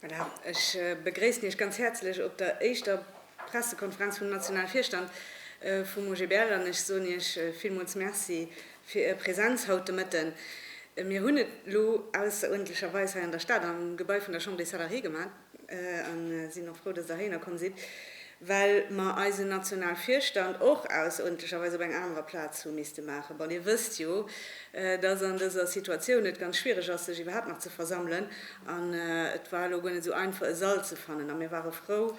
Voilà. Ech begréissen Iech ganz häerzlech op der éischter Pressekonferenz vum nationale Virstand vum OGBL an ech soen Iech villmools Merci fir Är Präsenz haut de Mëtten. Mir hunn et elo ausseruerdentlecherweis hei an der Stad am Gebai vun der Chambre des Salariés gemaach a sinn och frou, dass Der héiner komm sidd. well mer eisen Nationalvirstand och ausontercherweis op eng anerer Plaz hu misste maachen. Bon, Dir wësst jo, dass an dëser Situatioun et ganz schwierig ass, sech iwwerhaapt nach ze versammelen, an et war elo guer net esou einfach, e Sall ze fannen. A mir ware frou,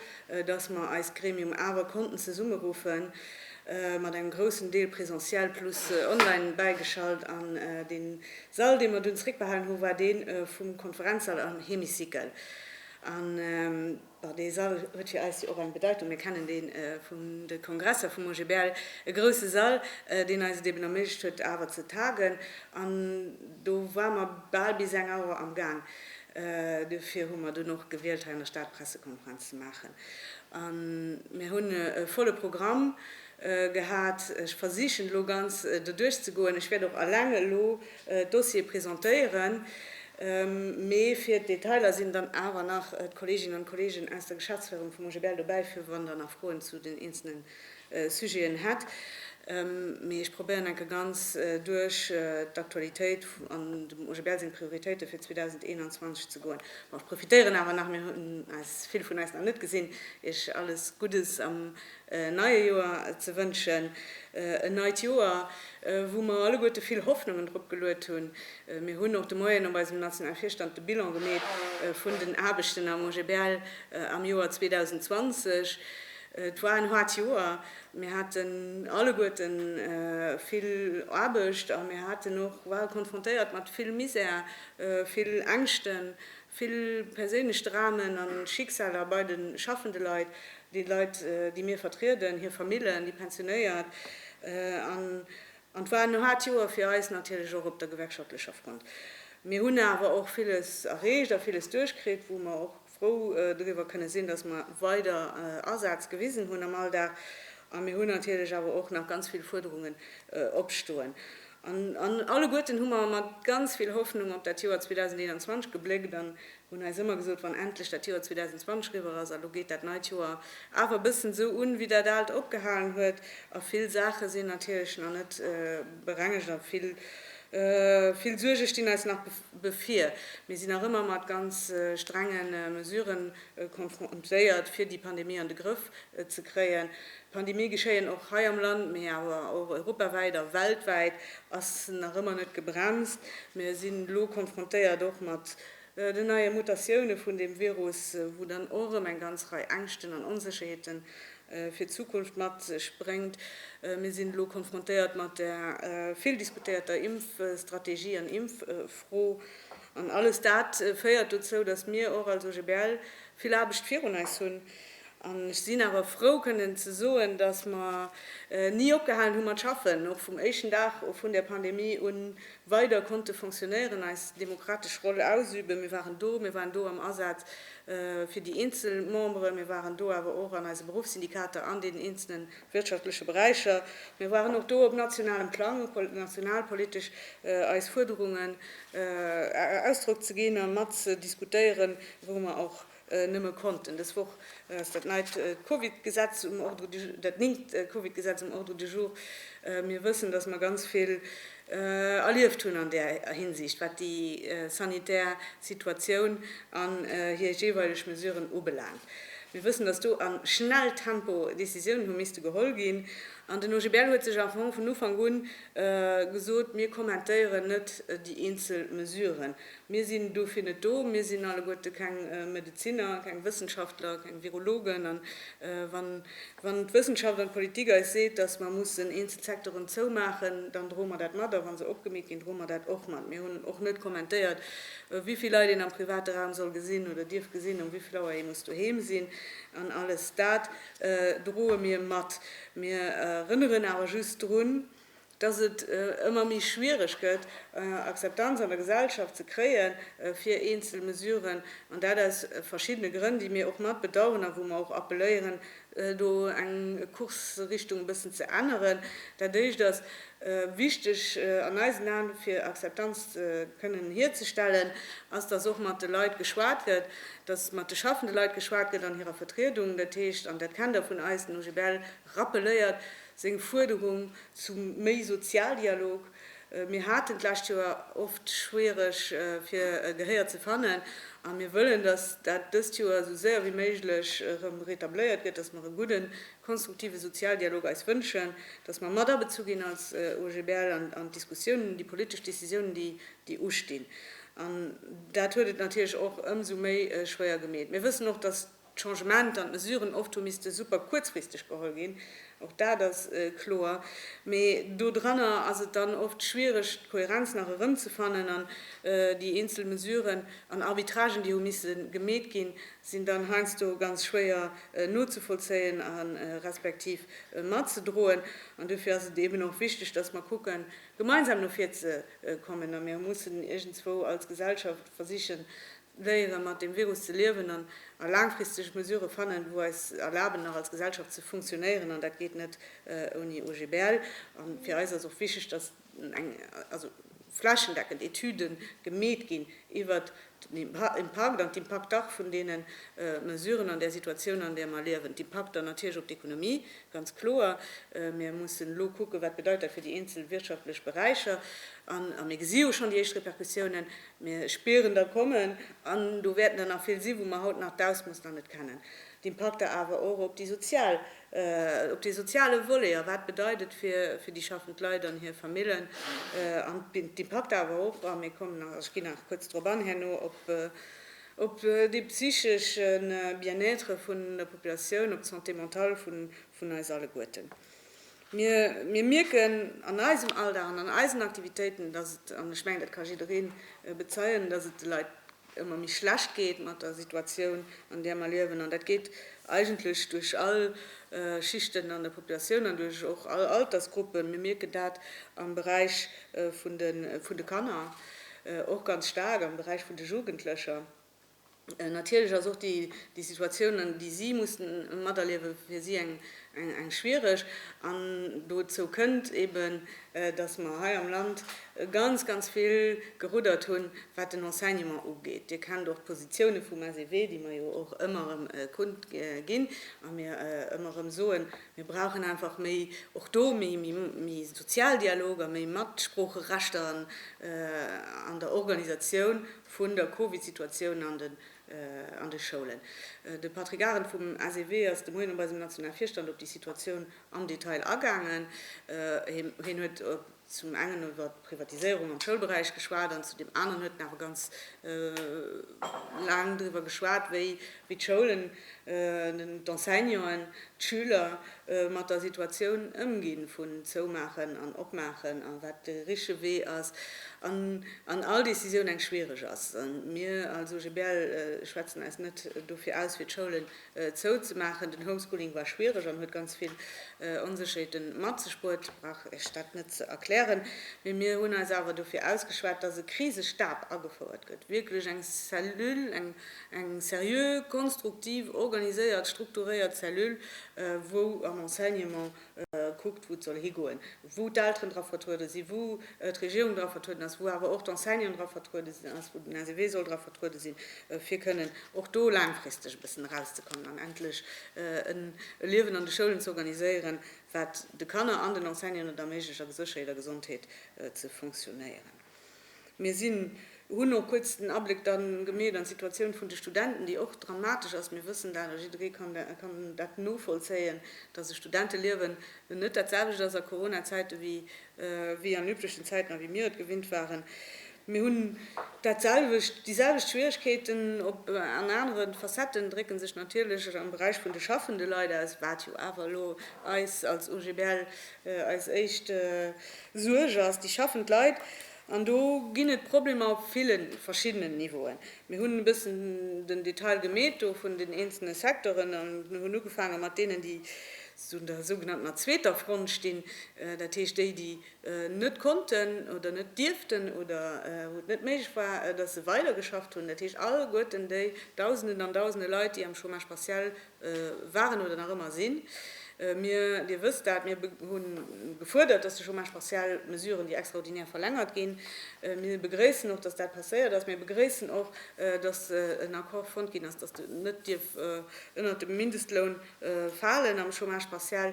dass mer eist Gremium awer konnten zesummeruffen, mat engem groussen Deel presentiel plus online bäigeschalt. An dee Sall, dee mer dunn zréckbehalen hu war dee vum Konferenzsall am Hémicycle. An. Bon, dee Sall huet fir eis jo och eng Bedeitung. Mir kennen dee vun de Kongresser vum OGBL, e grousse Sall, deen eis et eben erméiglecht huet, awer ze tagen. An do ware mer bal bis eng Auer amgaang. Duerfir hu mer dunn och gewielt, hei an der Stad d'Pressekonferenz ze maachen. A mir hunn e volle Programm. Gehat. Ech versichen elo ganz doduerch ze goen. Ech wäert och alleng elo d'Dossiere presentéieren, mee fir d'Detailer sinn dann awer nach d'Kolleeginnen an d'Kolleegen aus der Geschäftsféierung vum OGBL dobäi, fir wann Der nach Froen zu den eenzelne Sujeten hätt. Mee ech probéieren enke ganz duerch d'Aktualitéit an dem OGBL seng Prioritéite fir 2021 ze goen. Bon, ech profitéieren awer nach, mir hunn eis vill vun eis nach net gesinn, Iech alles Guddes am neie Joer ze wënschen. En neit Joer, wou mer alleguerte vill Hoffnungen drop geluet hunn. Mir hunn och de Moien op eisem nationale Virstand de Bilan gemeet vun den Aarbechten am OGBL am Joer 2020. Et war en haart Joer. Mir haten alleguerte vill Aarbecht a mir haten och, ware konfrontéiert mat vill Misär, vill Ängschten, vill perséinlech Dramen a Schicksaler bei de schaffende Leit. déi Leit, déi mir vertrieden, hir Famillen, déi Pensionéiert, an et war en haart Joer fir eis, natierlech och op der gewerkschaftlecher Front. Mir hunn awer och villes erreecht a villes duerchkritt, wou mer och frou driwwer kënne sinn, dass mer weider Asaz gewisen hunn am Alldag. A mir hunn natierlech awer och nach ganz vill Fuerderungen opstoen. An alleguerten hu mer mat ganz vill Hoffnung op dat Joer 2021 gebléckt an Hunn eis ëmmer gesot, wann endlech dat Joer 2020 riwwer ass, a lo geet dat neit Joer awer e bëssen esou un, wéi dat aalt opgehalen huet. A vill Saache sinn natierlech nach net berengegt a vill, vill Suerge stinn eis nach bevir. Mir sinn nach ëmmer mat ganz strenge Mesurë konfrontéiert, fir déi Pandemie an de Grëff ze kréien. Pandemië geschéien och hei am Land, mee awer och europawäit a weltwäit ass nach ëmmer net gebremst. Mir sinn elo konfrontéiert och mat den neie Mutatioune vun deem Virus, wou dann och erëm eng ganz Rei Ängschten an Onsécherheete fir d'Zukunft mat sech bréngt. Mir sinn elo konfrontéiert mat der vill diskutéierter Impfstrategie an Impffro. An alles dat féiert dozou, datt mir och als OGBL vill Aarbecht virun eis hunn. An ech sinn awer frou kënnen ze soen, datt mer ni opgehalen hu mat schaffen, och vum éischten Dag vun der Pandemie un, Weider konnte Fonctionnairën eis demokratesch Roll ausüben. Mir waren do, mir waren do am Asaz fir déi eenzel Membere, mir waren do awer och an eise Beruffssyndikater an deenen eenzele wirtschaftleche Beräicher. Mir waren och do op nationalem Plang, nationalpolitesch eis Fuerderungen Ausdrock ze ginn a mat ze diskutéieren, wou mer och Nëmme konnten. Dës Woch ass dat neit Covid-Gesetz um Ordre du, dat néngt Covid-Gesetz um Ordre du jour. Mir wëssen, dass mer ganz vill erlieft hunn an där Hinsicht, wat déi sanitär Situatioun an hir jeeweileg Mesuren ubelaangt. Mir wëssen, dass do am Schnelltempo Décisiounen hu misste geholl ginn. An den OGBL huet sech am Fong vun Ufank u gesot, Mir kommentéieren net déi eenzel Mesuren, Mir sinn dofir net do. Mir sinn alleguerte keng Medeziner, keng Wëssenschaftler, keng Virologen. A wann d'Wëssenschaft an d'Politik eis seet, datt mer mussen eenzel Secteuren zoumaachen, dann droe mer dat mat. A wa se opgemeet ginn, droe mer dat och mat. Mir hunn och net kommentéiert, wéi vill Leit een am private Raum soll gesinn oder dierf gesinn, ëm wéi vill Auer ee muss doheem sinn. An alles dat droe mir mat. Mir erënneren awer just drun, dass et ëmmer méi schwiereg gëtt, Akzeptanz an der Gesellschaft ze kréie fir eenzel Mesuren, an dat aus verschiddene Grënn, déi mir och mat bedauern a wou mer och appeléieren, do eng Kursrichtung e bëssen ze änneren. Dat Éischt ass wichteg an eisen Aen, fir Akzeptanz kënnen hierzestellen, ass, dass och mat de Leit geschwat gëtt, dass mat de schaffende Leit geschwat gëtt an hirer Vertriedung, dat heescht, an dat kennt Der vun eis, den OGBL, Rappeléiert seng Fuerderung zu méi Sozialdialog, Mir haten d'lescht Joer oft schwiereg fir e Gehéier ze fannen a mir wëllen, datt dat dëst Joer esou séier wéi méiglech erëm retabléiert gëtt, datt mer e gudden, konstruktive Sozialdialog eis wënschen, datt mer mat abezu ginn als OGBL an d'Diskussiounen, un déi politesch Décisiounen, déi ustinn. An dat huet et natierlech och ëmsou méi schwéier gemeet. Mir wëssen och, datt. d'Changementer an d'Mesuren oft hu misste super kuerzfristeg geholl ginn, och dat ass kloer, mee do dranner ass et dann oft schwiereg d'Kohärenz nach erëmzefannen an déi eenzel Mesuren an Arbitragen, déi hu misse gemeet ginn, sinn dann heiansdo ganz schwéier nozevollzéien respektiv matzedroen. An dofir ass et eeben och wichteg, dass mer kucken, gemeinsam no vir ze kommen a mir mussen iergendswou als Gesellschaft versichen, léieren mat deem Virus ze liewen an a laangfristeg Mesurë fannen, wou eis erlaben nach als Gesellschaft ze funktionéieren, an dat geet net ouni OGBL. A fir eis ass och wichteg, datt eng, also flächendeckend Etüde gemeet ginn iwwert den Impakt an d'Impakter vun deene Mesuren an där Situatioun an där mer liewen, d'Impakter natierlech op d'Ekonomie, ganz kloer, mir mussen elo kucken, wat bedeit dat fir déi eenzel wirtschaftlech Beräicher, a mir gesi jo schonn déi éischt Repercussiounen, Mir spieren der kommen, an do wäerten der nach vill si wou mer haut nach d'Ausmooss nach net kennen. D'Impakter awer och op déi sozial, op dee soziale Volet a wat bedeit et fir, fir déi schaffend Leit an hir Famillen an d'Impakter awer och, a mir kommen nach, ech ginn nach kuerz drop an herno, op, op dee psychesche Bien-être vun der Populatioun, op d'Santé mentale vun, vun eis alleguerten. Mir mierken an eisem Alldag an an eisen Aktivitéiten, dass et, an ech mengen, dat ka jidderee bezeien, dass et de Leit ëmmer méi schlecht geet mat der Situatioun, an där mer liewen. An dat geet eigentlech duerch all Schichten an der Populatioun an duerch och all Altersgruppen. Mir mierken dat am Beräich vun de Kanner och ganz staark, am Beräich vun de Jugendlecher. Natierlech ass och déi Situatioun, déi si mussen materliewen, fir si eng schwiereg. An dozou kënnt eben, dass mer hei am Land ganz, ganz vill geruddert hunn, wat den Enseignement ugeet. Dir kennt och d'Positioune vum SEW, déi mer jo och ëmmer erëm kund ginn a mir ëmmer erëm soen, Mir brauchen einfach méi, och do méi Sozialdialog a méi Matsproocherecht an der Organisatioun. vun der Covid-Situatioun an de Schoulen. De Patrick Arendt vum SEW ass de Moien op eisem nationale Virstand op déi Situatioun am Detail agaangen. Hien huet zum engen iwwer d'Privatiséierung am Schoulberäich geschwat an zu deem aneren huet en awer ganz laang driwwer geschwat, wéi wéi d'Schoulen, d'Enseignanten, d'Schüler mat der Situatioun ëmginn vun Zoumaachen an Opmaachen a wat de richtege Wee ass an an all Décisioun eng schwiereg ass. Mir als OGBL schwätzen eis net dofir aus fir d'Schoulen zouzemaachen. Den Homeschooling war schwiereg an huet ganz vill Onsécherheete mat sech bruet, brauch ech dat net ze erklären. Mee mir hunn eis awer dofir ausgeschwat, datt e Krisestab agefouert gëtt, wierklech eng Cellule, eng Eng seriö, konstruktiv, organiséiert, strukturéiert Cellule, wou am Enseignement kuckt, wou et soll higoen, wou d'Elteren dra vertruede sinn, wou d'Regierung dra vertrueden ass, wou awer och d'Enseignant dra vertruede sinn ass, wou den SEW soll dra vertruede sinn, fir kënnen och do laangfristeg e bëssen erauszekommen an endlech e Liewen an de Schoulen ze organiséieren, wat de Kanner an den Enseignanten et erméiglecht, a gesécherheet a Gesondheet ze funktionéieren. Mir sinn, hunn och kuerz den Abléck dann gemeet an d'Situatioun vun de Studenten, déi och dramatesch ass. Mir wëssen dat a jidderee kann dat novollzéien, dass e Studenteliewen net dat selwecht ass a Corona-Zäite wéi an üblechen Zäiten a wéi mir et gewinnt waren. Mir hunn dat selwecht, déi selwecht Schwieregkeeten. Op an anere Facetten drécke sech natierlech am Beräich vun de schaffende Leit aus, wat jo awer elo eis als OGBL Eis éischt Suerg ass déi schaffend Leit. An do ginn et Problemer op ville verschiddenen Niveauen. Mir hunn e bëssen den Detail gemeet do vun den eenzelne Secteuren a mir hunn ugefaange mat deenen, déi esou un der sougenanntener zweeter Front stinn, dat heescht déi, déi net konnten oder net dierften oder wou et net méiglech war, dass se weidergeschafft hunn, dat heescht alleguerten déi Dausenden an Dausende Leit, déi am Chômage partiel Waren oder nach ëmmer sinn mir, Dir wësst dat, mir hu gefuerdert, dass de Chômage partiel, d'Mesuren, déi extraordinär verlängert ginn. Mir begréissen och, dass dat passéiert ass. Mir begréissen och, dass en Accord fonnt ginn ass, dass en net dierf ënnert dem Mindestloun falen am Chômage partiel.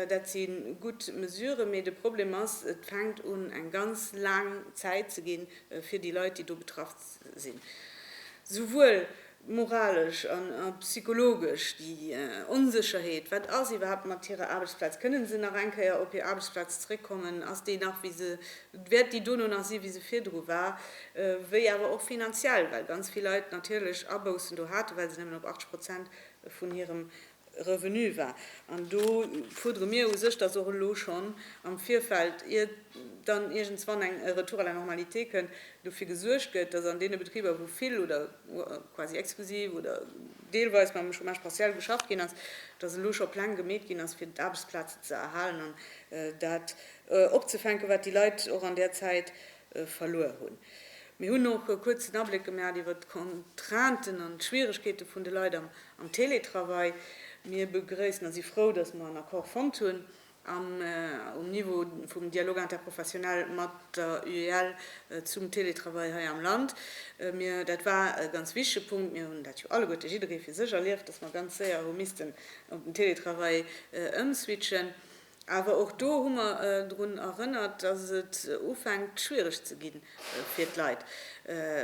Dat si gutt Mesuren, mee de Problem ass, et fänkt un eng ganz laang Zäit ze ginn fir déi Leit, déi do betraff sinn, souwuel moralesch a psychologesch, déi Onsécherheet, wat ass iwwerhaapt mat hirer Aarbechtsplaz, kënne se nach eng Kéier op hir Aarbechtsplaz zeréckkommen, ass déi nach wéi se, wäert déi dono nach si wéi se virdru war, wéi awer och finanziell, well ganz vill Leit natierlech Aboussen do haten, well se nëmmen op 80 Prozent vun hirem Revenu war. An do fuerdere mir u sech, dass och elo schonn am Virfeld, ier dann iergendswann eng Retour à la normalité kënn, dofir gesuergt gëtt, dass an deene Betriber, wou vill oder quasi exklusiv oder deelweis mam Chômage partiel geschafft ginn ass, dass elo scho Pläng gemeet ginn ass, fir d'Aarbechtsplazen ze erhalen an dat opzefänken, wat déi Leit och an där Zäit, verluer hunn. Mir hunn och e kuerzen Abléck gemaacht iwwert d'Contrainten an d'Schwieregkeete vun de Leit am Teletravail. Mir begrëissen a si frou, dass mer en Accord fonnt hunn um Niveau vum Dialogue interprofessionnel mat der UEL zum Teletravail hei am Land. Mir, dat war e ganz wichtege Punkt, mir hunn dat jo alleguerte jidderee fir sech erlieft, dass mer ganz séier hu missten op den Teletravail ëmswitchen. Awer och do hu mer drun erënnert, dass et ufänkt schwiereg ze gi fir d'Leit.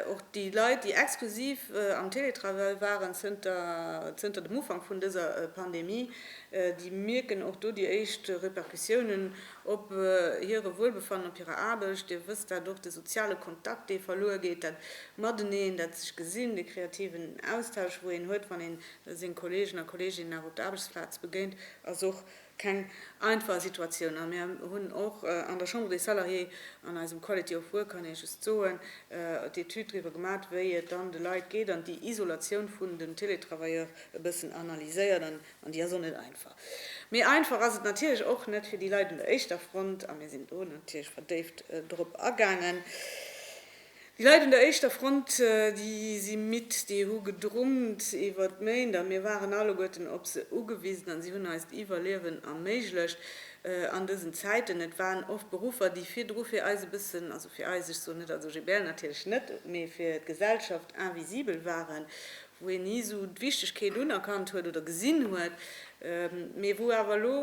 Och déi Leit, déi exklusiv am Télétravail waren zënter dem Ufank vun dëser Pandemie, déi mierken och do déi éischt Repercussiounen op hire Wuelbefannen, op hirer Aarbecht. Dir wësst dat och, de soziale Kontakt, dee verluer geet, dat Mateneen, dat sech gesinn, de kreativen Austausch, wou een huet, wann ee senge Kolleegen a Kolleeginnen nach op der Aarbechtsplaz begéint, ass och keng einfach Situatioun a mir hunn och an der Chambre des Salariés an eisem Quality of Work, kann ee just soen, d'Etüd driwwer gemat, wéi et dann de Leit geet an déi Isolatioun vun den Télétravailleurs e bëssen analyséiert an déi ass och net einfach. Méi einfach ass et natierlech och net fir déi Leit un der éischter Front a mir sinn do natierlech verdéift drop agaangen. Déi Leit un der éischter Front, déi si midd, déi hu gedrummt iwwer d'Méint a mir waren alleguerten op se ugewisen a si hunn eist Iwwerliewen erméiglecht an dësen Zäiten. Et waren oft Beruffer, déi virdru fir eis e bëssen, also fir eis, ech soen net als OGBL natierlech net, mee fir d'Gesellschaft invisibel waren, wou hien ni esou d'Wichtegkeet unerkannt huet oder gesinn huet, mee wou awer elo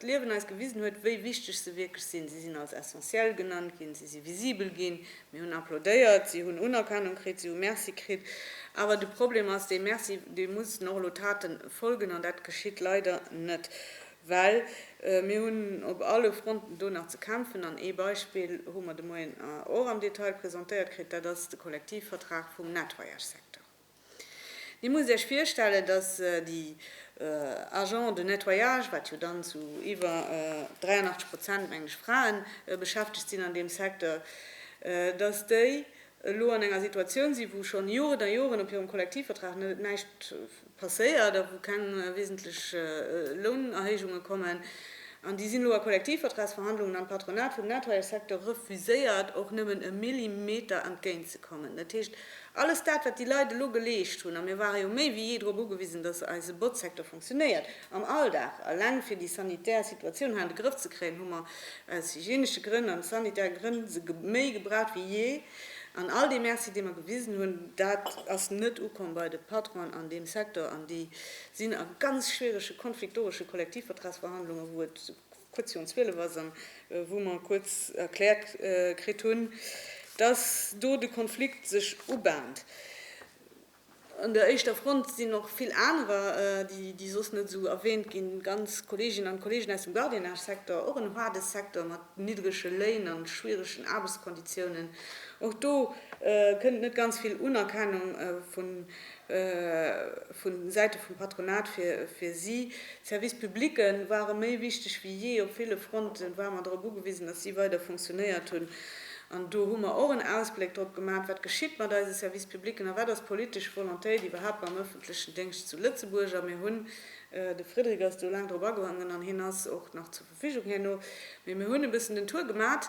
d'Liewen eis gewisen huet, wéi wichteg se wierklech sinn. Si sinn als essentiel genannt ginn, si si visibel ginn, mir hunn applaudéiert, si hunn Unerkennung kritt, si hu Merci kritt. Awer de Problem ass, dee Merci, deem mussen och elo Taten folgen, an dat geschitt leider net. Well mir hunn op alle Fronten do nach ze kämpfen. An ee Beispill hu mer de Moien och am Detail presentéiert kritt, dat ass de Kollektivvertrag vum Nettoyage-Secteur. Dir musst Iech virstellen, dass déi Agents de nettoyage, wat jo dann zu iwwer 83 Prozent, mengen ech, Frae beschäftegt sinn an deem Secteur, dass déi elo an enger Situatioun sinn, wou schonn Joren a Joren op hirem Kollektivvertrag näischt passéiert a wou keng wesentlech Lounerhéijunge kommen. An déi sinn elo a Kollektivvertragsverhandlungen an d'Patronat vum Nettoyage-Secteur refuséiert, och nëmmen e Millimeter entgéint ze kommen. Dat heescht, alles dat, wat déi Leit elo geleescht hunn, a mir ware jo méi wéi jee drop ugewisen, dass eise Botzsecteur funktionéiert, Am Alldag, eleng fir déi sanitär Situatioun hei an de Grëff ze kréien, hu mer aus hygienesche Grënn an sanitäre Grënn se méi gebraucht wéi jee. An all dee Merci, dee mer gewisen hunn, dat ass net ukomm bei de Patronen an deem Secteur. An déi sinn a ganz schwierege konfliktoresche Kollektivvertragsverhandlungen, wou et kuerz virun 12 ass an wou mer kuerz erkläert kritt hunn, dass do de Konflikt sech ubahnt. An der éischter Front sinn och vill anerer, déi soss net esou erwähnt ginn, ganz Kolleeginnen an Kolleegen aus dem Gardiennage-Secteur, och en haarde Secteur mat niddrege Léin an schwieregen Aarbechtskonditiounen. Och do kënnt net ganz vill Unerkennung vu Säite vum Patronat fir si. D'Services publics ware méi wichteg wéi jee op ville Fronten, ware mer drop ugewisen, dass si weider funktionéiert hunn. An do hu mer och en Ausbléck drop gemaat, wat geschitt mat eise Service publicen a wat ass d'politesch Volontéit iwwerhaapt mam ëffentlechen Déngscht zu Lëtzebuerg. A mir hunn, de Frédéric ass do laang drop agoangen an hien ass och nach zur Verfügung herno, mee mir hunn e bëssen den Tour gemaat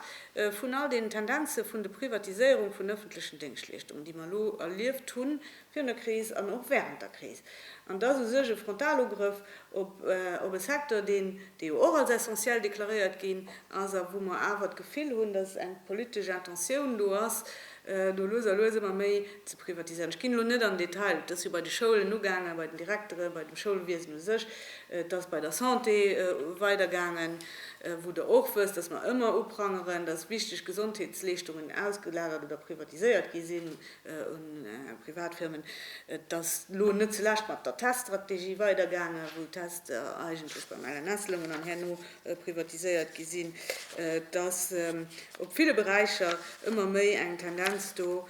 vun all deenen Tendenze vun de Privatiséierung vun ëffentlechen Déngschtleeschtungen, déi mer elo erlieft hunn, virun der Kris an och während der Kris, an dass u sech e Frontalugrëff op e Secteur, deen, dee jo och als essentiel deklaréiert ginn ass a wou mer awer d'Gefill hunn, dass eng politesch Intentioun do ass, do lues a lues ëmmer méi ze privatiséieren. Ech ginn elo net an den Detail, et ass jo bei de Schoulen ugaangen, bei den Direkteren, bei dem Schoulwiesen u sech, et ass bei der Santé weidergaangen, wou Der och wësst, dass mer ëmmer uprangeren, dass wichteg Gesondheetsleeschtungen ausgelagert oder privatiséiert gi sinn. un Privatfirmen. Et ass elo net zulescht mat der Teststrategie weidergaangen, wou Test er eigentlech beim LNS loungen an herno privatiséiert gi sinn. Et ass op ville Beräicher ëmmer méi eng Tendenz do,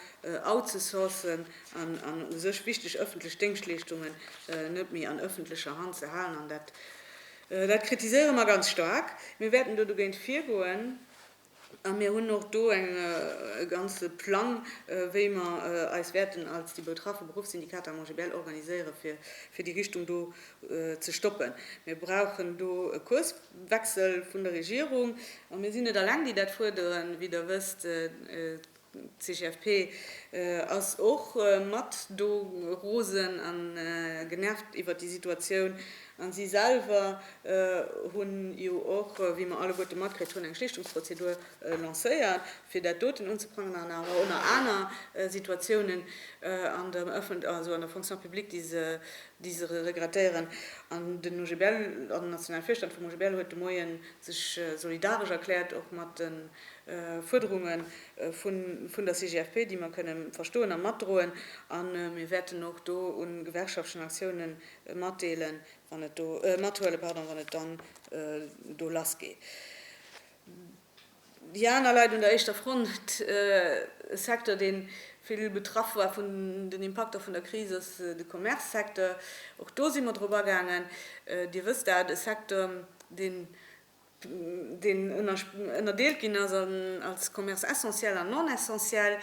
outzesourcen an u sech wichteg ëffentlech Déngschtleeschtungen net méi an ëffentlecher Hand ze halen. An dat kritiséiere mer ganz staark. Mir wäerten do dogéint virgoen. A mir hunn och do e ganze Plang, wéi mer eis wäerten als déi betraffe Beruffssyndikater am OGBL organiséiere fir déi Richtung do ze stoppen. Mir brauchen do e Kurswechsel vun der Regierung. A mir sinn net alleng, déi dat fuerderen, wéi Der wësst. D'CGFP ass och mat do rosen a genervt iwwert déi Situatioun. A si selwer hunn jo och, wéi mer alleguerte matkritt hunn, eng Schlichtungsprozedur lancéiert, fir dat doten unzeprangen an awer och nach aner Situatiounen an der Öffent-, also an der Fonction publique, déi se, déi se regrettéieren. An den OGBL, an den nationale Virstand vum OGBL huet de Moien sech solidaresch erkläert och mat de. Fuerderunge vun der CGFP, déi mer kënnen verstoen a matdroen. A mir wäerten och do u gewerkschaftlechen Aktioune matdeelen, wann et do, mathuelen, pardon, wann et dann do lass geet. Déi aner Leit un der éischter Front, e Secteur, dee vill betraff war vun den Impakter vun der Kris, ass de Commerce-Secteur. Och do si mer drop agaangen. Dir wësst dat, e Secteur, deen deen ënnerdeelt ginn ass als Commerce essentiel an non essentiel,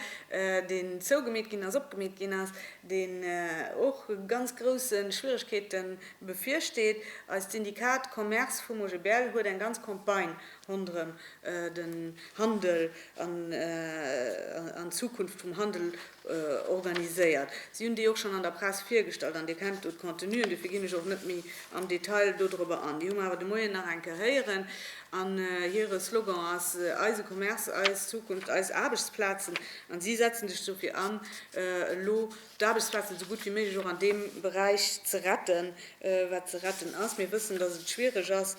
deen zougemeet ginn ass, opgemeet ginn ass, deen och ganz grousse Schwieregkeete bevirsteet. Eist Syndikat Commerce vum OGBL huet eng ganz Campagne ronderëm den Handel an d'Zukunft vum Handel organiséiert. Si hunn déi och schonn an der Press virgestallt an Dir kennt do d'Contenuen, dofir ginn ech och net méi am Detail dodrëber an. Déi hu mer awer de Moien nach eng Kéier héieren an hire Slogan ass Eise Commerce, eis Zukunft, eis Aarbechtsplazen an si setzen sech dofir an, elo d'Aarbechtsplazen esou gutt wéi méiglech och an deem Beräich ze retten, wat ze retten ass. Mir wëssen, datt et schwiereg ass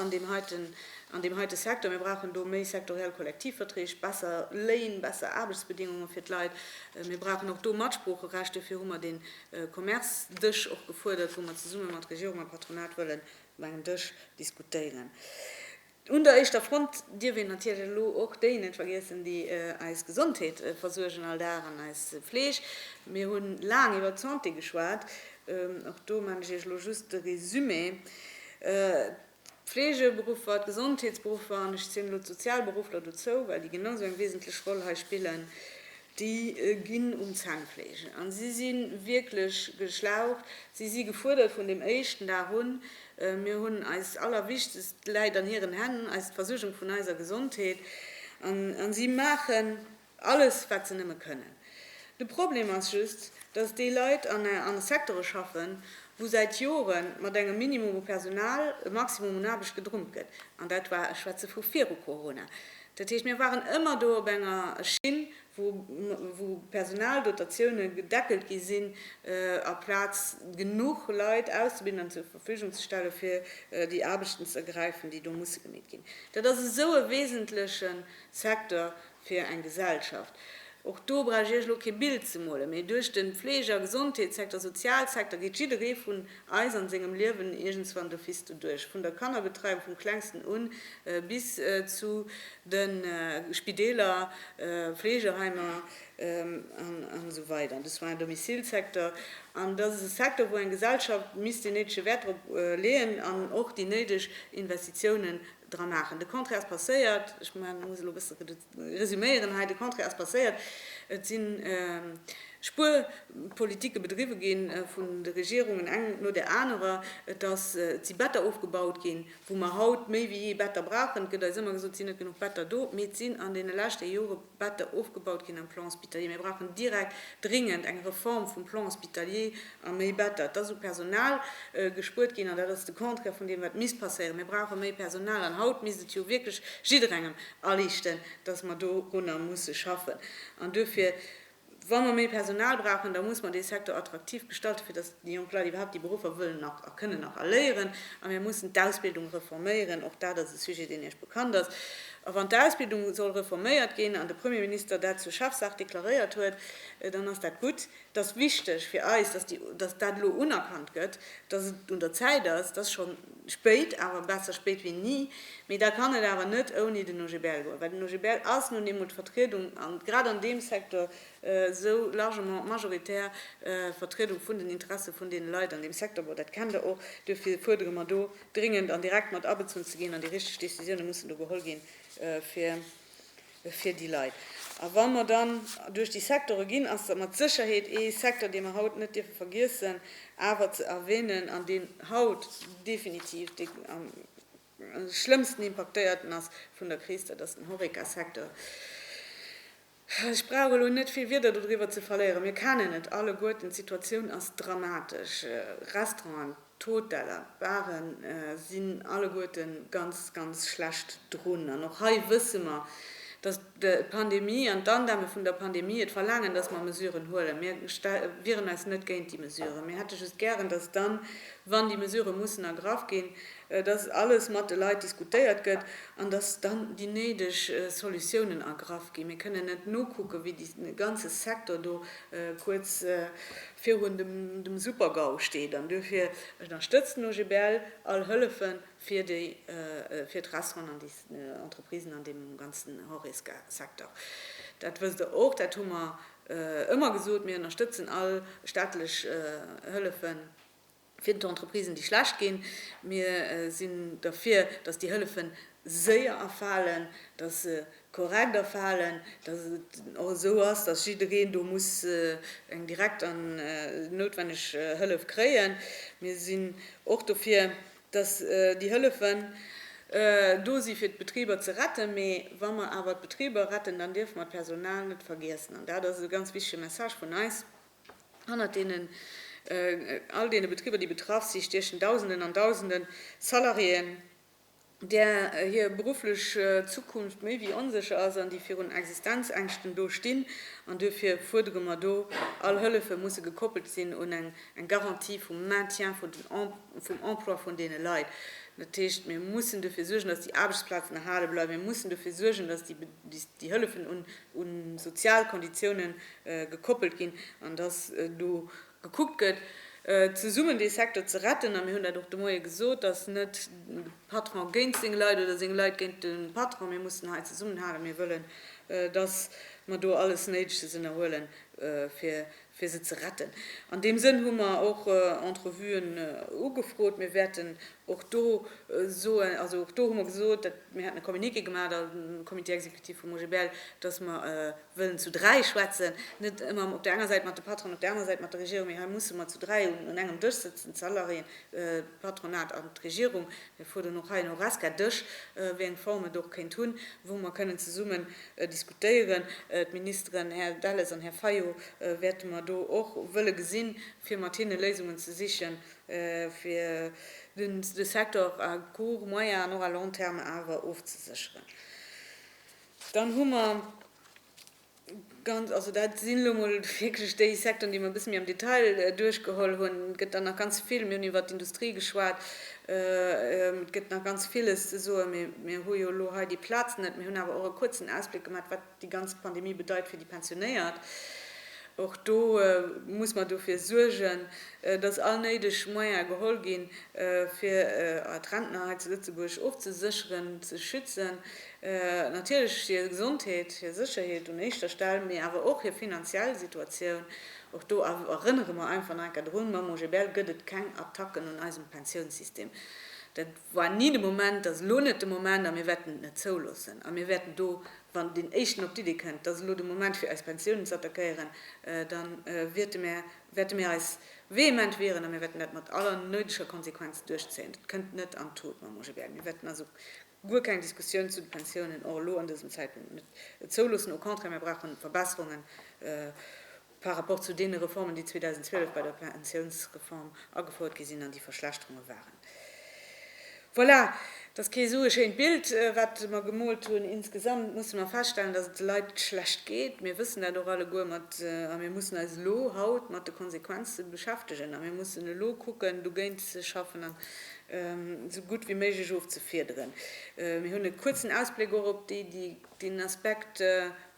an deem heiten an deem heite Secteur. Mir brauchen do méi sektoriell Kollektivverträg, besser Léin, besser Aarbechtsbedingungen fir d'Leit. Mir brauchen och do Matsproocherecht. Dofir hu mer dee Commerce-Dësch och gefuerdert, wou mer zesumme mat Regierung a Patronat wëllen op engem Dësch diskutéieren. Un der éischter Front dierf een natierlech elo och déi net vergiessen, déi eis Gesondheet versuergen all Dag an eis Fleeg. Mir hu laang iwwert d'Santé geschwat. Och do maachen ech Iech elo just de Résumé. D'Fleegeberuffer, d'Gesondheetsberuffer, an ech zielen elo d'Sozialberuffler dozou, well déi genau esou eng wesentlech Roll hei spillen, déi ginn um Zännfleege. A si si wierklech geschlaucht, si si gefuerdert vun deem éischten Dag un. Mir hunn eis Allerwichtegst läit an hiren Hänn, eis d'Versuergung vun eiser Gesondheet, a si maachen, Alles wat se nëmme kënnen. De Problem ass just, datt déi Leit an an Secteure schaffen, wou säit Jore mat engem Minimum u Personal e Maximum un Aarbecht gedrummt gëtt. An dat war, ech schwätze vu viru Corona. Dat heescht, mir waren ëmmer do op enger Schinn, wou wou Personaldotatioune gedeckelt gi sinn, aplaz genuch Leit auszebilden an zur Verfügung ze stelle fir déi Aarbechten z'ergräifen, déi do musse gemeet ginn. Dat ass esou e wesentleche Secteur fir eng Gesellschaft. Och do brauch ech Iech elo kee Bild ze molen, mee duerch de Fleege a Gesondheetssecteur, Sozialsecteur geet jidderee vun eis an sengem Liewen iergendswann an de Fisto duerch, vun der Kannerbetreiung vum Klengsten un bis zu de Spideeler, Fleegeheimer an esou weider, de Soins à domicile Secteur. An dat ass e Secteur, wou eng Gesellschaft misst deen néidege Wäert drop leeën an och déi néideg Investitiounen dra maachen. De Contraire ass passéiert, ech muss elo e bësse resuméieren hei, de Contraire ass passéiert, et si Spuerpolitike bedriwwe gi vun de Regierungen, eng no där anerer, et si Better ofgebaut ginn, wou mer haut méi wéi jee Better brauchen. Et gëtt eis ëmmer gesot, et sinn net genuch Better do, mee et sinn an deene leschte Jore Better ofgebaut ginn am Plan hospitalier. Mir brauchen direkt, dringend eng Reform vum Plan hospitalier a méi Better. Et ass u Personal gespuert ginn an dat ass de Contraire vun deem, wat misst passéieren. Mir brauche méi Personal an haut misst et jo wierklech jidderengem aliichten, dass mer dorunner musse schaffen. An duerfir. Wa mer méi Personal brauchen, da muss mer dee Secteur attraktiv gestalten, fir datt déi jonk Leit iwwerhaupt déi Beruffer wëllen nach a kënnen nach erléieren. A mir mussen d'Ausbildung reforméieren. Och dat ass e Sujet, deen Iech bekannt ass. A wann d'Ausbildung soll reforméiert ginn an de Premier Minister dat zur Chefsaach deklaréiert huet, dann ass dat gutt. Et ass wichteg fir eis, datt dat elo unerkannt gëtt, datt et un der Zäit ass, datt schonn Spéit, awer besser spéit wéi ni. Mee da kann et awer net ouni den OGBL goen, well den OGBL ass nun eemol d'Vertriedung, an grad an deem Secteur, esou largement d'majoritaire Vertriedung vun den Interesse vun deene Leit an deem Secteur. Bon, dat kennt Der och. Duerfir fuerdere mer do dringend, an direkt mat abezunn ze ginn, an déi richteg Décisiounen mussen do geholl ginn, fir, fir déi Leit. A wa mer dann duerch déi Sektore ginn, ass dat mat Sécherheet ee Secteur, dee mer haut net dierfe vergiessen awer ze erwänen an deen haut definitiv dee am schlëmmsten impaktéierten ass vun der Kris, dat ass den Horeca-Secteur. Ech brauch elo net vill Wieder dodriwwer ze verléieren, mir kennen et alleguerten, d'Situatioun ass dramatesch. Restauranten. D'Hoteller, d'Baren sinn alleguerten ganz, ganz schlecht drun. An och hei wësse mer, dass d'Pandemie an d'Andämme vun der Pandemie et verlaangen, dass mer Mesuren huelen. Mir wieren eis net géint déi Mesuren. Mir hätte just gären, dass dann, wann déi Mesurë mussen ergraff ginn, dass alles mat de Leit diskutéiert gëtt an dass dann déi néideg Solutiounen ergraff ginn. Mir kënnen net nokucken, wéi dee ganze Secteur do kuerz virun dem Super-GAU steet an duerfir ënnerstëtzt den OGBL all Hëllefe fir d'Restauranten an déi Entreprisen an deem ganzen Horeca-Secteur. Dat wësst Der och, dat hu mer ëmmer gesot, mir ënnerstëtzen all staatlech Hëllefen. fir d'Entreprisen, déi schlecht ginn. Mir sinn derfir, datt déi Hëllefe séier erfalen, datt se korrekt erfalen, datt et och esou ass, datt jiddereen do muss eng direkt an noutwenneg Hëllef kréien. Mir sinn och dofir, datt déi Hëllefen do si fir d'Betriber ze retten. Mee wa mer awer d'Betriber retten, dann dierfe mer d'Personal net vergiessen. An dat ass e ganz wichtege Message vun eis. Hannert deenen, all deene Betriber, déi betraff si, stiechen Dausenden an Dausenden Salariéen, där hir berufflech Zukunft méi wéi onsécher ass an déi virun Existenzängschten do stinn. An duerfir fuerdere mer do, all Hëllefe musse gekoppelt sinn un eng Garantie vum Maintien vum Emploi vun deene Leit. Dat heescht, mir mussen duerfir suergen, datt déi Aarbechtsplazen erhale bleiwen. Mir mussen duerfir suergen, datt déi Hëllefen un un sozial Konditiounen gekoppelt ginn an dass do gekuckt gëtt, zesummen dee Secteur ze retten. A mir hunn dat och de Moie gesot, dass net de Patron géint seng Leit oder seng Leit géint de Patron, mir mussen hei zesummenhalen. Mir wëllen, dass mer do alles Néideges ënnerhuelen, fir fir se ze retten. An deem Sënn hu mer och Entrevuen ugefrot. Mir wäerten och do soen, also och do hu mer gesot, dat, mir hätten e Communiqué gemaach am Comité exécutif vum OGBL, datt mer wëllen zu dräi schwätzen, net ëmmer op der enger Säit mat de Patronen, op der anerer Säit mat der Regierung, mee hei musse mer zu dräi un engem Dësch sëtzen, d'Salariéen, d'Patronat an d'Regierung. Mir fuerderen och hei en Horesca-Dësch, wéi eng Form et och kéint hunn, wou mer kënnen zesummen diskutéieren. D'Ministeren Här Delles an Här Fayot wäerte mer do och wëlle gesinn, fir mat hinne Léisungen ze sichen, fir de Secteur à court, moyen an och à long terme awer ofzesécheren. Dann hu mer ganz, also dat sinn elo emol wierklech déi Secteuren, déi mer e bësse méi am Detail duerchgeholl hunn, et gëtt der nach ganz vill, mir hunn iwwert d'Industrie geschwat, Et gëtt nach ganz villes ze soen, mee mir hu jo elo hei déi Plaz net. Mir hunn awer och e kuerzen Ausbléck gemat, wat déi ganz Pandemie bedeit fir déi Pensionéiert. Och do muss mer dofir suergen, dass all néideg Moyene geholl ginn, fir d'Rentner hei zu Lëtzebuerg och ze sécheren, ze schützen. Natierlech hir Gesondheet, hir Sécherheet un éischter Stell, mee awer och hir finanziell Situatioun. Och do erënnere mer einfach nach enker drun, Mam OGBL gëtt et keng Attacken un eisem Pensiounssystem. Dat war ni de Moment, dat ass elo net de Moment a mir wäerten et net zouloossen. A mir wäerten do, wann deen Éischten op d'Iddi kënnt, dass elo de Moment fir eis Pensiounen ze attackéieren, da wäerte mär, wäerte mär eis vehement wieren a mir wäerten dat mat aller néideger Konsequenz duerchzéien. Dat kënnt net an d'Tut mam OGBL. Mir wäerten also Guer keng Diskussioun zu de Pensiounen, och elo an dësem Zäitpunkt net zouloossen. Au contraire, mir brauche Verbesserunge par rapport zu deene Reformen, déi 2012 bei der Pensiounsreform agefouert gi sinn an déi Verschlechterunge waren. Voilà, et ass kee sou e schéint Bild, wat mer gemoolt hunn. Insgesamt musse mer feststellen, dass et de Leit schlecht geet. Mir wëssen dat och alleguer mat, a mir mussen eis elo haut mat de Konsequenze beschäftegen a mir mussen elo kucken, dogéint ze schaffen. esou gutt wéi méiglech ofzefiederen. Mir hunn e kuerzen Ausbléck och op deen Aspekt,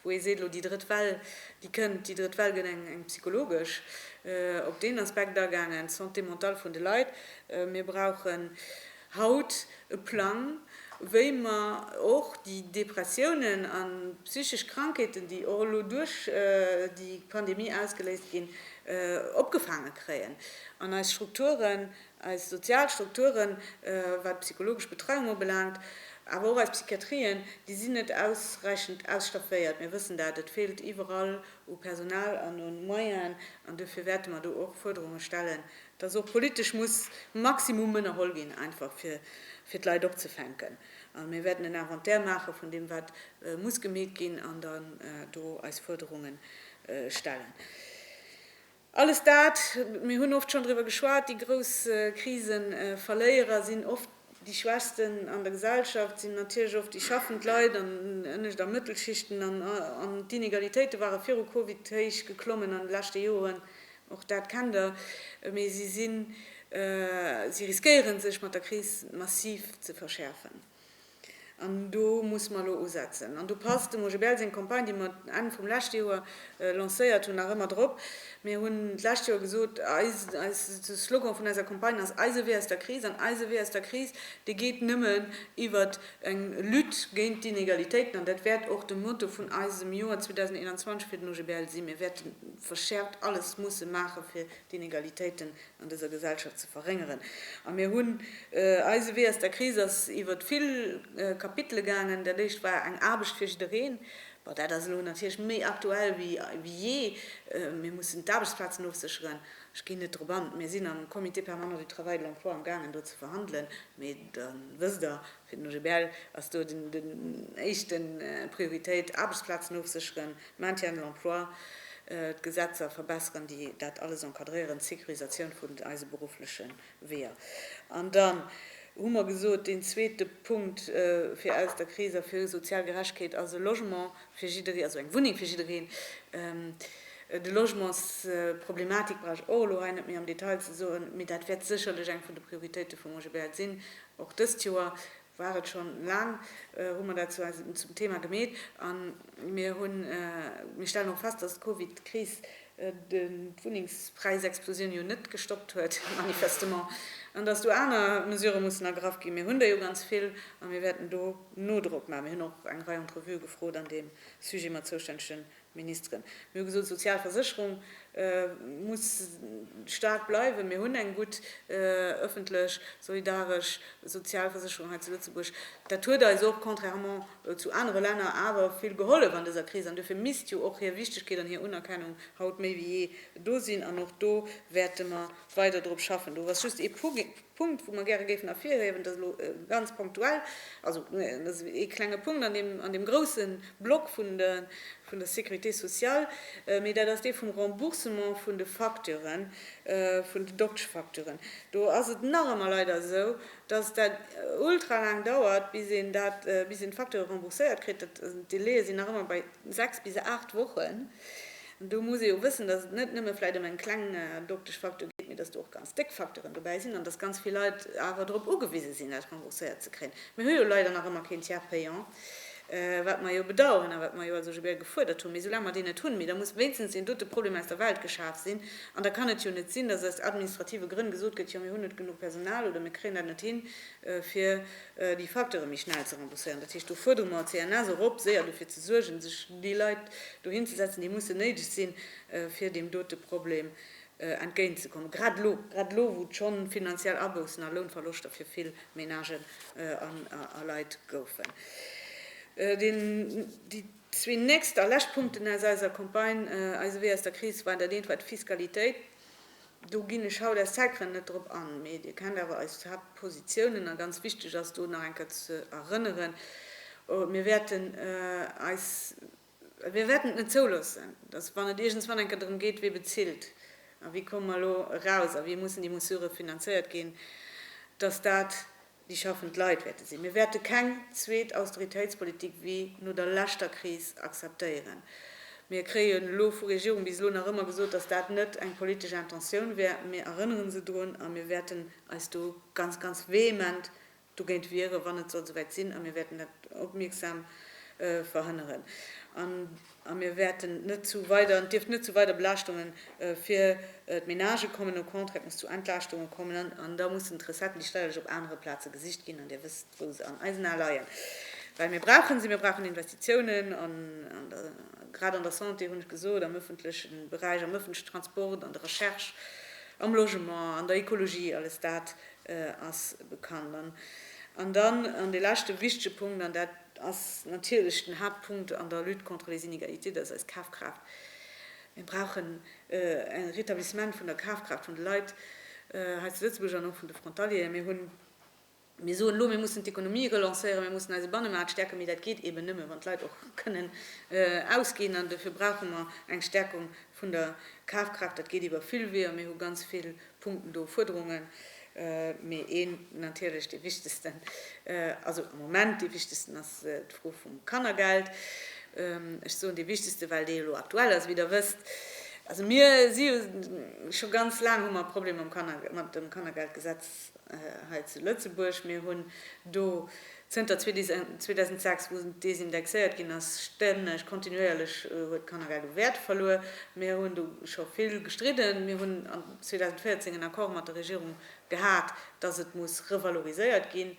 wou ee seet, elo déi drëtt Well, déi kënnt, déi drëtt Well gëtt eng psychologesch, op deen Aspekt agaangen, d'Santé mentale vun de Leit. Mir brauchen haut e Plang, wéi mer och déi Depressiounen a psychesch Krankheeten, déi och elo duerch déi Pandemie ausgeléist ginn, opgefaange kréien an eis Strukturen Eis sozial Strukturen, wat d'psychologesch Betreiung ubelaangt, awer och eis Psychiatrien, déi sinn net ausräichend ausstafféiert. Mir wëssen dat. Et feelt iwwerall u Personal an u Moyenen. An duerfir wäerte mer do och Fuerderunge stellen, dass och politesch muss Maximum ënnerholl ginn, einfach fir fir d'Leit opzefänken. A mir wäerten en Inventaire maache vun deem, wat muss gemeet ginn, an dann do eis Fuerderunge stellen. Alles dat, mir hunn oft schonn driwwer geschwat, déi grouss Kriseverléierer sinn oft déi Schwächsten an der Gesellschaft, sinn natierlech oft déi schaffend Leit an ënnescht a Mëttelschichten. An d'Inegalitéite ware viru Covid héich geklommen an de leschte Joren, och dat kennt Der. Mee si riskéiere sech mat der Kris massiv ze verschäerfen. An do musse mer elo usetzen. An do passt dem OGBL seng Campagne, déi mer Enn vum leschte Joer lancéiert hunn, nach ëmmer drop. Mir hunn d'lescht Joer gesot, eis, de Slogan vun eiser Campagne ass Eise Wee aus der Kris. An eise Wee aus der Kris, dee geet nëmmen iwwert eng Lutte géint d'Inegalitéiten. An dat wäert och de Motto vun eisem Joer 2021 fir den OGBL sinn. Mir wäerte verschäerft alles musse maachen, fir d'Inegalitéiten an dëser Gesellschaft ze verréngeren. A mir hunn, eise Wee aus der Kris ass iwwert vill Kapitele gaangen. Dat éischt war eng Aarbecht fir jiddereen. Bon, dat ass elo natierlech méi aktuell wéi jee. Mir mussen d'Aarbechtsplazen ofsécheren. Ech ginn net drop an. Mir sinn am Comité permanent du travail et de l'emploi amgaangen do ze verhandelen, mee da wësst Der, Fir den OGBL ass do den éischte Prioritéit, Aarbechtsplazen ofsécheren, Maintien de l'emploi, d'Gesetzer verbesseren, déi dat alles encadréieren, d'Securisatioun vun eise beruffleche Weeër. An dann hu mer gesot, deen zweete Punkt fir aus der Kris a fir sozial Gerechtegkeet ass e Logement fir jiddereen, also eng Wunneng fir jiddereen. De Logementsproblematik brauch ech och elo hei net méi am Detail ze soen, mee dat wäert sécherlech eng vun de Prioritéite vum OGBL sinn. Och dëst Joer war et schonn, laang hu mer dat zwar zum Thema gemeet a mir hunn, mir stellen och fest, dass d'Covid-Kris d'Wunnengspräisexplosioun jo net gestoppt huet, manifestement, an dass do aner Mesurë mussen ergraff ginn. Mir hunn der jo ganz vill a mir wäerten do Nodrock maachen. Mir hunn och eng Rei Entrevuë gefrot an deem Sujet mat zoustännegen Ministeren, mir hu gesot, d'sozial Versécherung muss staark bleiwen, mir hunn eng gutt ëffentlech, solidaresch sozial Versécherung hei zu Lëtzebuerg. Dat huet eis och, contrairement zu anere Länner, awer vill gehollef an dëser Kris an duerfir misst jo och hir Wichtegkeet an hir Unerkennung haut méi wéi jee do sinn an och do wäerte mer weider drop schaffen. Do ass just ee Pu. Punkt, wou mer gäre géifen ervirhiewen, dass elo ganz ponktuell, also dat ass ee klenge Punkt an deem, an deem grouse Block vun de, vun der Sécurité sociale, mee dat ass dee vum Remboursement vun de Facturen, vun den Dokteschfacturen. Do ass et nach ëmmer leider esou, dass dat ultra laang dauert, bis een dat, bis een d'Facture rembourséiert kritt. D'Delaie sinn nach ëmmer bei sechs bis aacht Wochen. Do muss ee jo wëssen, dass et net nëmme vläicht ëm eng kleng doktesch Facteur geet, mee dass do och ganz déck Facteuren dobäi sinn an dass ganz vill Leit awer drop ugewise sinn, eppes rembourséiert ze kréien. Mir hu jo leider nach ëmmer keen Tiers payant, wat mer jo bedauern a wat mer jo also souguer gefuerdert hunn. Mee soulaang mer deen net hunn, mee da muss wéinstens deen dote Problem aus der Welt geschaf sinn. An da kann et jo net sinn, dass aus administrative Grënn gesot gëtt, jo mir hunn net genuch Personal oder mir kréien dat net hin, fir déi Facteure méi schnell ze rembourséieren. Dat heescht, do fuerdere mer d'CNS och op, séier dofir ze suergen, sech déi Leit dohin ze setzen, déi mussen néideg sinn, fir deem dote Problem entgéint ze kommen, grad elo, grad elo, wou et scho finanziell Aboussen a Lounverloschter fir vill Menagen a Leit goufen. Déi zwee nächst a lescht Punkten aus eiser Campagne Eise Wee aus der Kris waren dat eent war d'Fiskalitéit. Do ginn ech haut aus Zäitgrënn net drop an, mee Dir kennt awer eis Haaptpositiounen, a ganz wichteg ass do nach eng Kéier ze erënneren, Mir wäerten eis, mir wäerten et net zouloossen, datt, wann et iergendswann eng Kéier drëm geet, wie bezilt a wéi komme mer elo eraus a wéi mussen déi Mesure finanzéiert ginn, datt dat déi schaffend Leit wäerte sinn. Mir wäerte keng zweet Austeritéitspolitik wéi no der leschter Kris akzeptéieren. Mir kréien elo vu Regierung bis elo nach ëmmer gesot, datt dat net eng politesch Intentioun wär. Mir erënnere se drun a mir wäerten eis do ganz, ganz vehement dogéint wiere wann et sollt esouwäit sinn a mir wäerten dat opmierksam verhënneren. A mir wäerten net zu weider, et dierf net zu weider Belaaschtunge fir d'Menagë kommen, au contraire, et muss zu Entlaaschtunge kommen. An da mussen d'Recetten, déi steierlech, op anere Plaze gesicht ginn. An Dir wësst, wou se an eisen Ae leien. Well mir brauche se, mir brauchen Investitiounen, grad an der Santé, hunn ech gesot, am ëffentleche Beräich, am ëffentlechen Transport, an der Recherche, am Logement, an der Ekologie, alles dat ass bekannt. An dann, an dee leschte wichtege Punkt, an dat, Et ass natierlech den Haaptpunkt an der Lutte contre les inégalités, dass eis Kafkraaft, mir brauchen e Rétablissement vun der Kafkraaft vun de Leit hei zu Lëtzebuerg an och vun de Frontalieren. Mir hunn, mir soen elo, mir mussen d'Ekonomie relancéieren, mir mussen eise Bannemaart stäerken, mee dat geet eeben nëmme, wann d'Leit och kënnen ausginn. An dofir brauche mer eng Stäerkung vun der Kafkraaft. Dat geet iwwer vill Weeër. Mir hu ganz vill Punkten do, Fuerderungen, mee een natierlech dee wichtegsten, also am Moment dee wichtegsten ass d'Fro vum Kannergeld. Ech soen dee wichtegste, well dee elo aktuell ass, wéi Der wësst. Also mir si jo scho ganz laang, hu mer e Problem mam Kanner, mat dem Kannergeldgesetz hei zu Lëtzebuerg. Mir hunn do Zënter 2006, wou desindexéiert ginn ass, stänneg, kontinuéierlech, huet d'Kannergeld u Wäert verluer. Mir hunn do scho vill gestridden. Mir hunn an 2014 en Accord mat der Regierung gehat, dass et muss revaloriséiert ginn.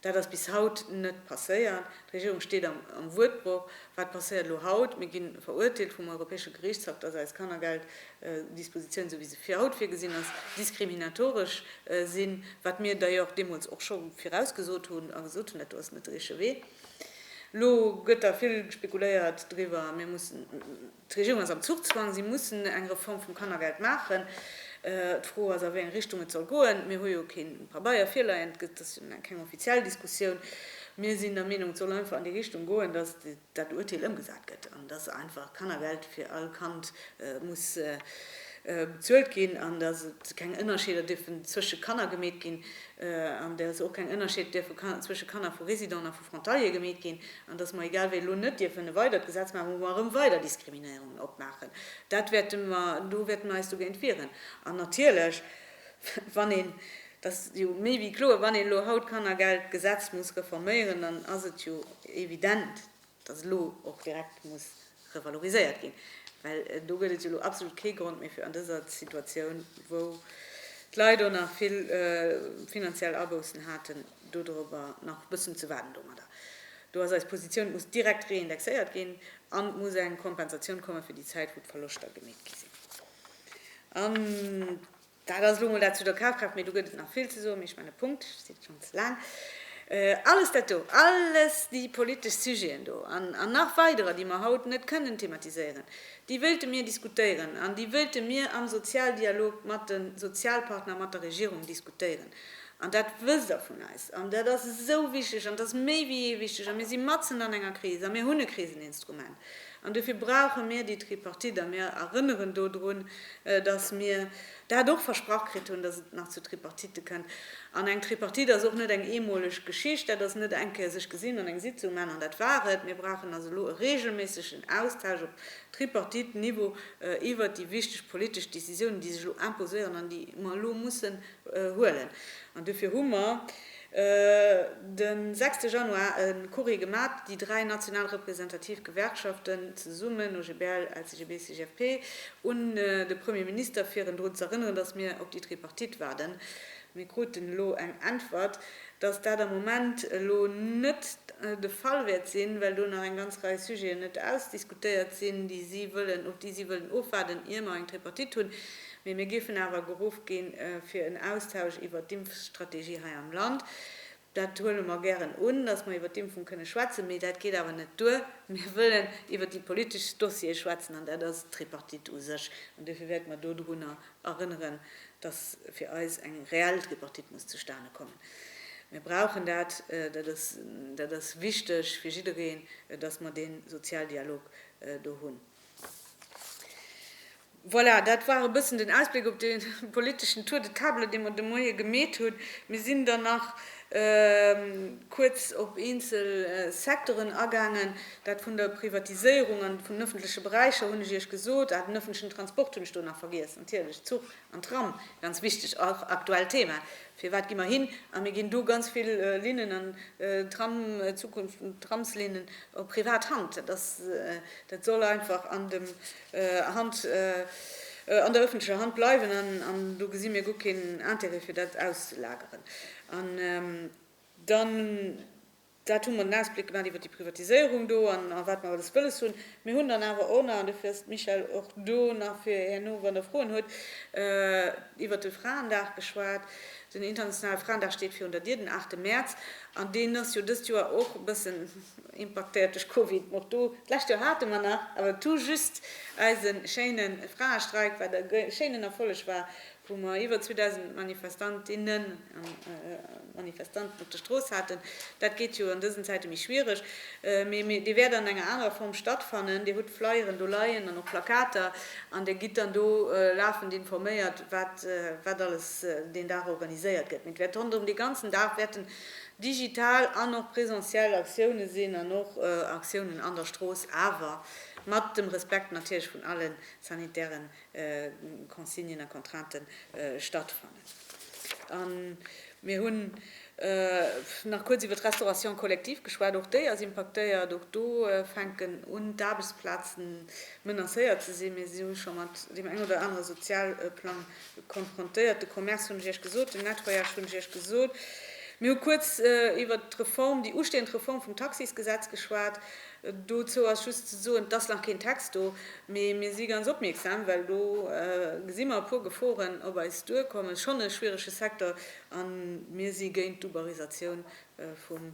Dat ass bis haut net passéiert. D'Regierung steet am Wuertbroch. Wat passéiert elo haut? Mir gi verurteelt vum Europäesche Geriichtshaff, dass eist Kannergeld Dispositioun, esou wéi se fir haut virgesinn ass, diskriminatoresch sinn, wat mir d'ailleurs deemools och scho virausgesot hunn a gesot hunn, dat do ass net de richtege Wee. Elo gëtt da vill spekuléiert driwwer, mir mussen, d'Regierung ass am Zuchzwang, si mussen eng Reform vum Kannergeld maachen. D'Fro ass, a wéi eng Richtung et soll goen. Mir hu jo kee Pabeier virleien, et ass jo keng offiziell Diskussioun. Mir sinn der Meenung, et soll einfach an déi Richtung goen, dass dat Urteel ëmgesat gëtt an dass einfach Kannergeld fir all Kand muss bezuelt ginn an dass et keng Ënnerscheeder dierfen zwësche Kanner gemeet ginn an dass och keng Ënnerscheed dierfe zwësche Kanner vu Résidenten a vu Frontaliere gemeet ginn an dass mer egal wéi elo net dierfen e weidert Gesetz maachen, wou mer erëm weider Diskriminéierungen opmaachen. Dat wäerte mer, do wäerte mer eis dogéint wieren an natierlech, Wann een, dat ass jo méi wéi kloer, wann een elo haut d'Kannergeldgesetz muss reforméieren, dann ass et jo evident, dass elo och direkt muss revaloriséiert ginn, well do gëtt et jo elo absolut kee Grond méi fir an dëser Situatioun, wou d'Leit och nach vill finanziell Aboussen haten, dodrüber nach e bëssen ze waarden domadder. Do ass eis Positioun, et muss direkt reindexéiert ginn an et muss eng Kompensatioun komme fir déi Zäit, wou d'Verloschter gemeet gi sinn. An dat ass elo emol dat zu der Kafkraaft, mee do gëtt et nach vill ze soen, mee ech maachen e Punkt, sidd schonn ze laang. Alles dat do, alles déi politesch Sujeten do an nach weiderer, déi mer haut net kënnen thematiséieren, déi wéilte mir diskutéieren an déi wéilte mir am Sozialdialog mat de Sozialpartner, mat der Regierung diskutéieren. An dat wësst Der vun eis. An dat ass esou wichteg an dat ass méi wéi jee wichteg. A mir si matzen an enger Kris a mir hunn e Kriseninstrument. An dofir brauche mir déi Tripartite. A mir erënneren do drun, datt mir dat och versprach kritt hunn, datt et nach zu Tripartite kënnt. An eng Tripartite ass och net eng eemoleg Geschicht. Dat ass net eng Kéier sech gesinn an eng Sitzung man an dat war et. Mir brauchen also elo e reegelméissegen Austausch op Tripartite-Niveau iwwert déi wichteg politesch Décisiounen, déi sech elo imposéieren an déi mer elo mussen huelen an dofir hu mer den sechste Januar e Courrier gemat, déi dräi national representativ Gewerkschaften zesummen, OGBL, LCGB, CGFP, un de Premier Minister fir en drun z'erënneren, dass mir op déi Tripartite waarden. Mir kruten elo eng Äntwert, dass dat am Moment elo net de Fall wäert sinn, well do nach eng ganz Rei Sujeten net ausdiskutéiert sinn, déi si wëllen, op déi si wëllen ofwaarden, ier mer eng Tripartite hunn. Mee mir géifen awer geruff ginn, fir en Austausch iwwert d'Impfstrategie hei am Land. Dat huele mer gären un, dass mer iwwert d'Impfung kënne schwätzen. Mee dat geet awer net duer. Mir wëllen iwwert déi politesch Dossiere schwätzen, an dat ass d'Tripartite u sech. An duerfir wäerte mer do drunner erënneren, dass fir eis eng reell Tripartite muss zustane kommen. Mir brauchen dat. Dat ass, dat ass wichteg fir jiddereen, dass mer dee Sozialdialog do hunn. Voilà, dat war e bëssen den Ausbléck op dee politeschen Tour de table, dee mer de Moie gemeet hunn. Mir sinn dann nach kuerz op eenzel Secteuren agaangen. Dat vun der Privatiséierung an vun den ëffentleche Beräicher hunn ech Iech gesot. Ah, den ëffentlechen Transport hunn ech do nach vergiess, natierlech, Zuch. An Tram, ganz wichteg, och aktuellt Thema, firwat gi mer hin a mir ginn do ganz vill Linnen an Tram, Zukunft vun Tramslinnen, op privat Hand? Dat ass, dat soll einfach an dem Hand, an der öffentlecher Hand bleiwen an do gesi mir guer keen Intérêt fir dat auszulageren. An dann. Dat hu mer den Ausblick gemaach iwwert déi Privatiséierung do an wat mer alles wëlles hunn. Mir hunn dann awer och nach, an dofir ass d'Michèle och do nach fir herno, wann Der Froen hutt, iwwert de Fraendag geschwat. Den internationale Fraendag steet virun der Dier, den aachte Mäerz, an deen ass jo dëst Joer och e bëssen impaktéiert duerch Covid. Och do, d'lescht Joer hate mer nach, awer tout juste, eise schéine Fraestreik, wat e schéinen Erfolleg war, wou mer iwwer 2.000 Manifestantinnen, Manifestanten op der Strooss haten. Dat geet jo an dësen Zäite méi schwiereg. Mee Dir wäert an enger anerer Form stattfannen. Dir hutt Flyeren do leien an och Plakater an Dir gitt dann do lafend informéiert, wat alles deen Dag organiséiert gëtt. Mee et wäert ronderëm dee ganzen Dag wäerten digital an och presentiell Aktiounen sinn an och Aktiounen an der Strooss, awer mat dem Respekt natierlech vun alle sanitäre Consignen a Contrainten stattfannen. A mir hunn nach kuerz iwwer d'Restauration collective geschwat. Och déi ass impaktéiert. Och do fänken un, d'Aarbechtsplazen menacéiert ze sinn. Mir si scho mat deem engen oder anere Sozialplang konfrontéiert. De Commerce hunn ech Iech gesot. Den Nettoyage hunn ech Iech gesot. Mir hu kuerz iwwer d'Reform, déi ustehend Reform vum Taxisgesetz geschwat. Dozou ass just ze soen, et ass nach keen Text do, mee mir si ganz opmierksam, well do gesi mer e puer Geforen op eis duerkommen. Et ass schonn e schwierege Secteur a mir si géint d'Uberisatioun vum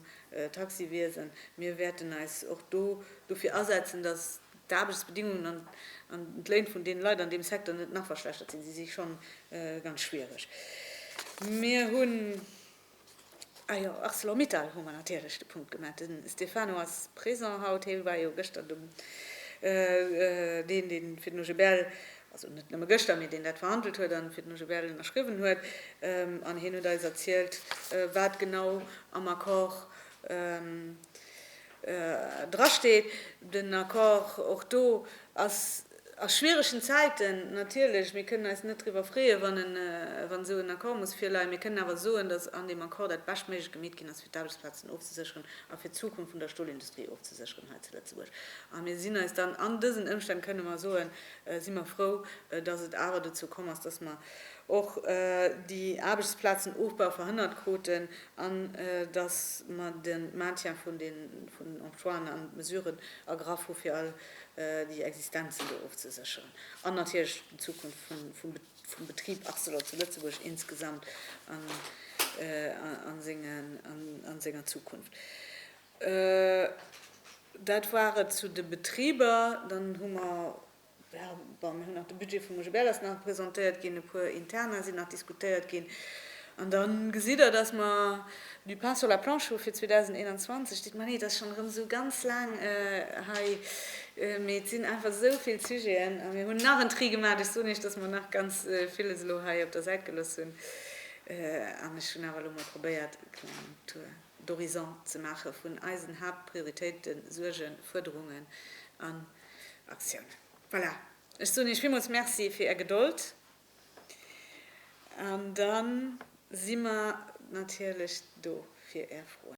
Taxiwiesen. Mir wäerten eis och do dofir asetzen, datt d'Aarbechtsbedingungen an d'Léin vun deene Leit an deem Secteur net nach verschlechtert sinn. Si si schonn ganz schwiereg. Mir hunn Ah jo, Arcelor-Mittal hu mer natierlech de Punkt gemaach. De Stefano ass présent haut, hie war jo gëschter dem, deen, deen fir den OGBL, also net nëmme gëschter, mee deen dat verhandelt huet an fir den OGBL ënnerschriwwen huet. An hien huet eis erzielt, wat genau am Accord, drasteet, den Accord och do ass a schwieregen Zäiten, natierlech, mir kënnen eis net driwwer freeë wann esou en Accord muss virleien, mir kënnen awer soen, datt an deem Accord dat Beschtméiglech gemeet ginn ass, fir d'Aarbechtsplazen ofzesécheren a fir d'Zukunft vun der Stolindustrie ofzesécheren hei zu Lëtzebuerg. A mir sinn eis dann, an dësen Ëmstänn kënnen mer soen, si mer frou, datt et awer dozou komm ass, datt mer och déi Aarbechtsplazenofbau verhënnert kruten an dass mer de Maintien vun den Emploien a Mesuren ergraff hu fir all déi Existenzen do ofzesécheren an natierlech d'Zukunft vum Betrib Arcelor zu Lëtzebuerg insgesamt a senger Zukunft. Dat war et zu de Betriber. Dann hu mer Jo, bon, mir hunn nach de Budget vum Roger Berlers nach presentéiert ginn, e puer Interna sinn nach diskutéiert ginn. An da gesitt Der, dass mer du pain sur la planche hu fir 2021. Dites-moi nee, et ass schonn erëm esou ganz laang hei, mee et sinn einfach esou vill Sujeten. A mir hunn nach en Tri gemaach. Ech soen Iech, dass mer nach ganz villes elo hei op der Säit gelooss hunn. An ech hunn awer elo emol probéiert, e klengen Tour d'horizon ze maache vun eisen Haaptprioritéiten, Suergen, Fuerderungen an. Aktioun. Voilà, ech soen Iech villmools Merci fir Är Gedold an da si mer natierlech do fir Är Froen.